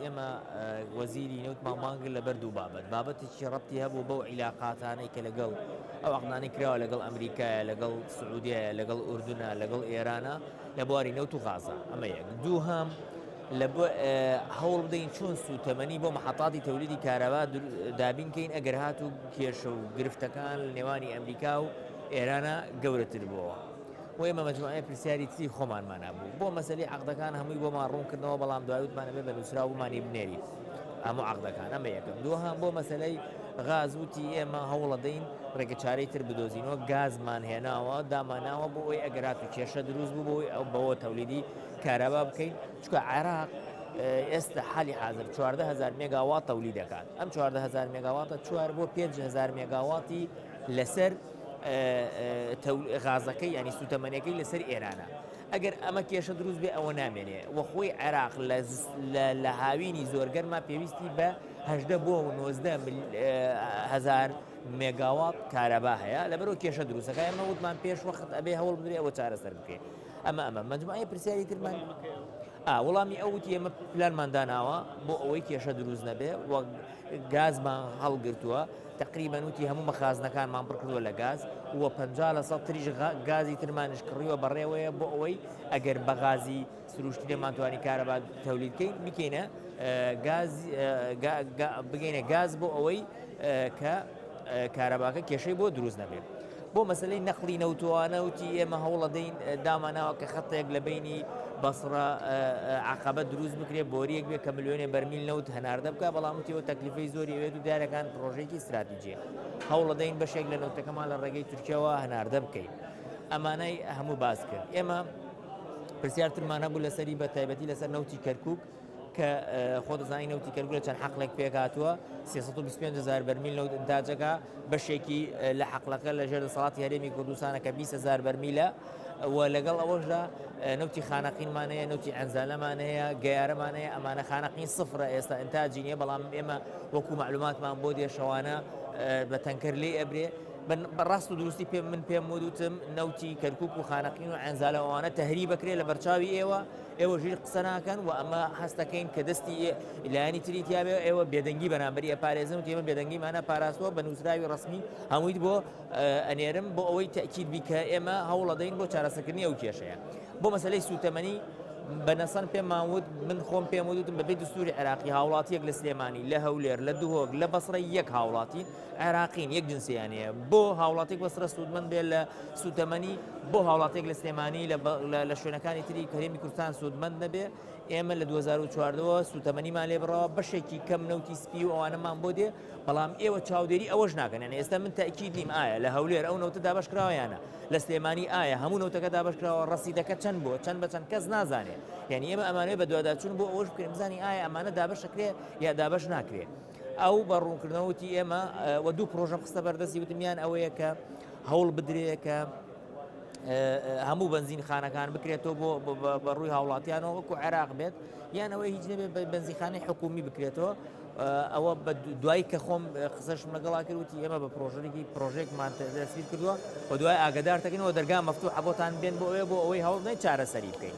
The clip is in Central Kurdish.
ئێمە وەزیری نەوتمان مانگرت لەبەر دوو بابەت بابەتێکی ڕەتی هەبوو بەو عیلاقاتانەی کە لەگەڵ ئەو عقدانەی کراوە لەگەڵ ئەمریکایە لەگەڵ سعودیە لەگەڵ ئوردنا لەگەڵ ئێرانە لە بواری نەوت و غازە ئەمە یەک دوو هەم لە هەوڵ بدەین چۆن سووتەمەنی بۆ مححتاتی تەولیدی کارەبا دابینکەین ئەگەر هات و کێشە و گرفتەکان لە نێوانی ئەمریکا و ئێرانە گەورەتر بووەوە. و ئێمە مەجموعەیە پرسیاری تری خۆمانمان هەبوو بۆ مەسەلی عەقدەکان هەمووی بۆمان ڕوون کردنەوە بەڵام دوای وتمان ئەبێ بە نووسراو بمانی بنێری هەموو عەقدەکان ئەمە یەکەم دووهەم بۆ مەسەلەی غاز وتی ئێمە هەوڵەدەین ڕێگە چارەی تر بدۆزینەوە گازمان هێناوە داماناوە بۆ ئەوی ئەگەرات و کێشە دروست بوو بۆی ئەو بەوە تەولیدی کارەبا بکەین چکە عێراق ئێستا حالی حاضر 140هزار مێگاوات تەولی دەکات ئەم 140هزار مێگاواتە چوار بۆ 5هزار مێگاواتی لەسەر غازەکەی یانی سوتەمەنیەکەی لەسەر ئێرانە ئەگەر ئەمە کێشە دروست بێ ئەوە نامێنێ وەخۆی عێراق لە هاوینی زۆرگەرما پێویستی بە هەدە بۆ و نۆزدە هزار مێگاوات کارەبا هەیە لەبەرەوە کێشە دروستەکە ئەمە وتمان پێش وەخت ئەبێ هەوڵ بدرێ ئەوە چارەسەر بکەێت ئەمە ئەمە مەجموعی پرسیاری ترمان وەڵامی ئەوتی ئەمە پلانمانداناوە بۆ ئەوەی کێشە دروست نەبێ وەک گازمان هەڵگرتووە تەقریبەن وتی هەموو مەخازنەکانمان پڕ کردووە لە گاز و پەنجا لە سەد تریش گازی ترمانیش کڕیوە بەڕێوەیە بۆ ئەوەی ئەگەر بە غازی سروشتی دەمانتوانی کارەبا تەولید بکەین بکەینە بگەینە گاز بۆ ئەوەی کە کارەباکە کێشەی بۆ دروست نەبێت. بۆ مەسەلەی نەقڵی نەوتوانە وتی ئێمە هەوڵەدەین داماناوە کە خەتێک لە بینی بەسڕە عقبە دروست بکرێت بۆریەک بێت کە ملیۆنێ بەرمیل نەوت هەناردە بکە بەڵام وتیەوە تەکلیفی زۆری ئەوێت و دیارەکان پرۆژێکی استراتیجیە هەوڵەدەین بەشێک لە نەوتەکەمان لە ڕێگەی تورکیاوە هەناردە بکەین ئەمانەی هەموو باز کرد ئێمە پرسیارترمانە بوو لەسەری بە تایبەتی لەسەر نەوتی کەرکک کە خۆت دەزانی نەوتی کەرکوک لە چەند حەقلێک پێکهاتووە، سێ سەد و بیست و پێنج هەزار بەرمیل نەوت ئینتاج دەکا، بەشێکی لە حەقلەکە لەژێر دەسەڵاتی هەرێمی کوردستانە کە بیست هەزار بەرمیلە و لەگەڵ ئەوەشدا نەوتی خانەقینمان هەیە، نەوتی عەنزالەمان هەیە، گەیارەمان هەیە، ئەمانە خانەقین سفرە ئێستا ئینتاجی نییە، بەڵام ئێمە وەکو مەعلوماتمان بۆ دێ شەوانە بە تەنکەر لێی ئەبرێ، بە ڕاست و دروستی پێ من پێم وتم نەوتی کەرکک و خانەقین و عەنزالە ئەوانە تەهریب بکرێ لە بەرچاوی ئێوە، ئێوە ژیر قسە ناکەن و ئەمە هەستەکەین کە دەستی لایەنی تری تیاێ ئێوە بێدەنگی بەرامبەری ئەپارێزن و تێمە بێدەنگیمانە پاراستوە بە نووسراوی ڕسمی هەموویت بۆ ئەنێرم بۆ ئەوەی تەکیید بیکە ئێمە هەوڵەدەین بۆ چارەسەکردنی ئەو کێشەیە بۆ مەسلەی سوتەمەنی بەنەسەن پێماوت من خۆم پێم وتم بەبێ دەستوری عراقی هاوڵاتیەک لە سلێمانی لە هەولێر لە دهۆک لە بەسڕی یەک هاوڵاتی عێراقین یەک جنسیان هەیە بۆ هاوڵاتیک بەسرە سوودمەند بێت لە سوتەمەنی بۆ هاوڵاتێک لە سلێمانی لە شوێنەکانی تری کەرێمی کوردستان سوودمەند نەبێ ئێمە لە 2014ەوە سوتەمەنیمان لێ بڕەوە بەشێکی کەم نەوتی سپی و ئەوانەمان بۆ دێ بەڵام ئێوە چاودێری ئەوەش ناکەن یعنی ئێستا من تاکیید نیم ئایا لە هەولێر ئەو نەوتە دابش کراوەیانە لە سلێمانی ئایا هەموو نەوتەکە دابش کراوە ڕسیدەکە چەند بۆ چەند بە چەند کەس نازانێت یعنی ئێمە ئەمانەوە بە دوواداچون بۆ ئەوش بکەین بزانین ئایا ئەمانە دابشەکرێ یا دابش ناکرێت ئەو بە ڕوونکردنەوە وتی ئێمە وە دوو پرۆژەم خستە بەردەستی وتمیان ئەوەیە کە هەوڵ بدرێ کە هەموو بنزین خانەکان بکرێتەوە بۆ بە ڕووی هاوڵاتیانەوە وەکو عێراق بێت یانەوەی هیچ نەبێت بە بنزیخانی حکومی بکرێتەوە ئەوە بە دوای کە خۆم قسەش لەگەڵا کردوتی ئێمە بە پرۆژەێکی پرۆژێکمان دەستی کردووە بە دوای ئاگدارتەکەنەوە دەرگا مەفتو حەبتان بێن بۆ ئەوێ بۆ ئەوەی هەوڵ نەی چارەسەری بکەین.